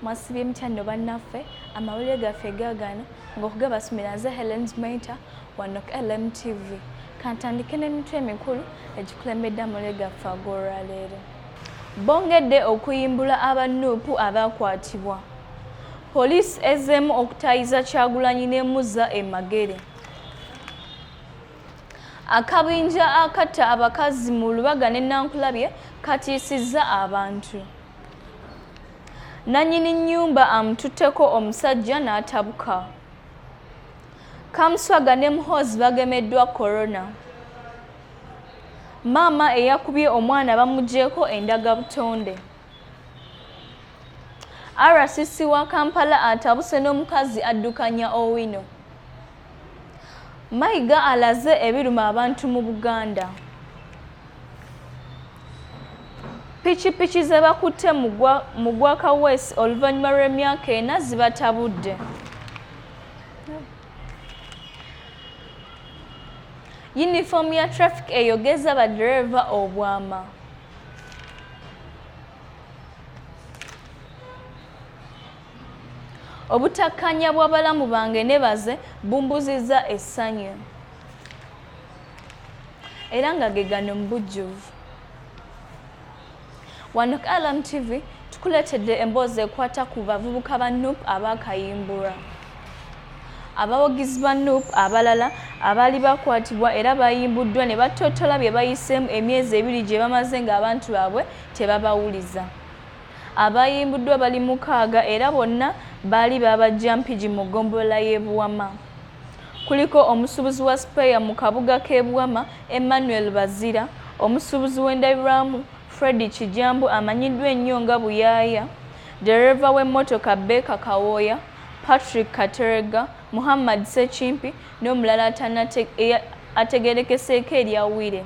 mwasibye mutya nno bannaffe amawulire gaffe gaagano ng'okugabasumira nze helen maita wano ku lmtv kantandike n'emitwe emikulu egikulembedde amawulire gaffe ag'olwaleero bongedde okuyimbula abannuupu abaakwatibwa poliisi ezzeemu okutayiza kyagulanyi n'emuzza emagere akabinja akatta abakazi mu lubaga ne nankulabye katiisizza abantu nannyini nnyumba amututteko omusajja n'atabuka kamuswaga ne muhoozi bagemeddwa korona maama eyakubye omwana bamugyeko endaga butonde rcc wa kampala atabuse n'omukazi addukanya owino Mayiga alaze ebiruma abantu mu Buganda. Pikipiki ze bakutte mu gwa Kaweesi oluvannyuma lw'emyaka ena zibatabudde. Yunifoomu ya traffic eyogeza baddereeva obwama. Obutakkaanya bw'abalamu bange ne baze bumbuzizza essanyu era nga ge gano mu bujjuvu wano ku alam tv tukuleetedde emboozi ekwata ku bavubuka ba nup abaakayimbulwa abawagizi ba nup abalala abaali bakwatibwa era bayimbuddwa ne battottola bye bayiseemu emyezi ebiri gye bamaze ng'abantu baabwe tebabawuliza Abaayimbuddwa bali mukaaga era bonna baali baabajja Mpigi mu ggombolola y'e Buwama. Kuliko omusuubuzi wa sipeeya mu kabuga k'e Buwama, Emmanuel Bazira, omusuubuzi w'endabirwamu, Freddy Kijambu amanyiddwa ennyo nga Buyaaya, ddereeva w'emmotoka Baker Kawooya, Patrick Kateregga, Muhammad Ssekimpi n'omulala ategeerekeseeko erya Wire.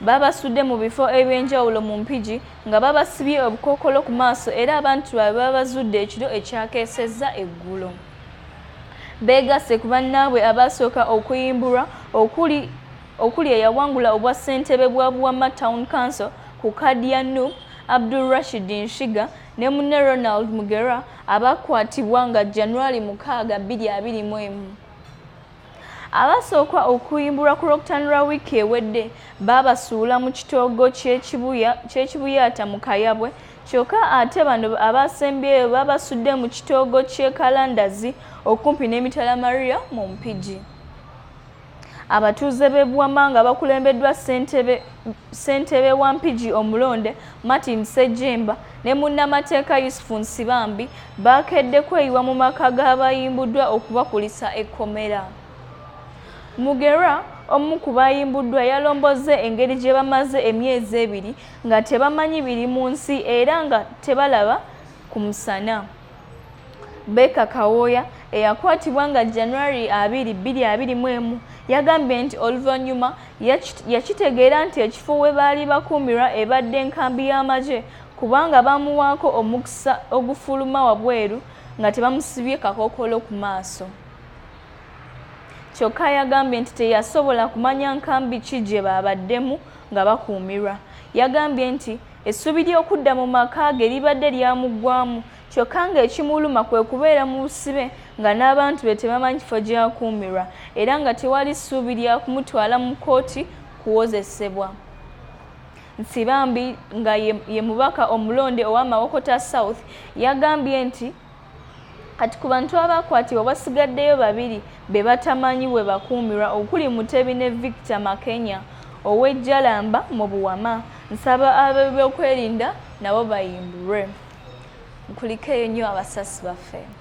babasudde mu bifo eby'enjawulo mu Mpigi nga babasibye obukookolo ku maaso era abantu baabwe babazudde ekiro ekyakeesezza eggulo. Beegasse ku bannaabwe abaasooka okuyimbulwa okuli okuli eyawangula obwa ssentebe bwa Buwama Town Council ku kaadi ya Nup Abdul Rashid Nshiga ne munne Ronald Mugera abaakwatibwa nga January mukaaga bbiri abiri mu emu. Abasooka okuyimbulwa ku Lwokutaano lwa wiiki ewedde baabasuula mu kitoogo ky'ekibuyaata mu Kayabwe kyokka ate bano abaasembyeyo baabasudde mu kitoogo ky'e Kalandazi okumpi n'emitala Maria mu Mpigi. Abatuuze b'e Buwama nga bakulembeddwa ssentebe wa Mpigi omulonde Martin Ssejjemba ne munnamateeka Yusufu Nsibambi baakedde kweyiwa mu maka g'abayimbuddwa okubakulisa ekkomera. Mugerwa omu ku baayimbuddwa yalombozze engeri gye bamaze emyezi ebiri nga tebamanyi biri mu nsi era nga tebalaba ku musana. Baker Kawooya eyakwatibwa nga January abiri bbiri abiri mu emu yagambye nti oluvannyuma yakitegeera nti ekifo we baali bakuumirwa ebadde nkambi y'amagye kubanga baamuwaako omukisa ogufuluma wabweru nga tebamusibye kakookolo ku maaso kyokka yagambye nti teyasobola kumanya nkambi ki gye baabaddemu nga bakuumirwa. Yagambye nti essuubi ly'okudda mu maka ge libadde lyamuggwamu kyokka ng'ekimuluma kwe kubeera mu busibe nga n'abantu be tebamanyi kifo gy'akuumirwa era nga tewali ssuubi lya kumutwala mu kkooti kuwozesebwa. Nsibambi nga ye mubaka omulonde owa Mawokota South yagambye nti kati ku bantu abaakwatibwa wasigaddeyo babiri be batamanyi bwe bakuumirwa okuli mutebi ne victor makenya ow'ejjalamba mu buwama nsaba ab'ebyokwerinda nabo bayimbulwe nkulikeyo nnyo abasasi baffe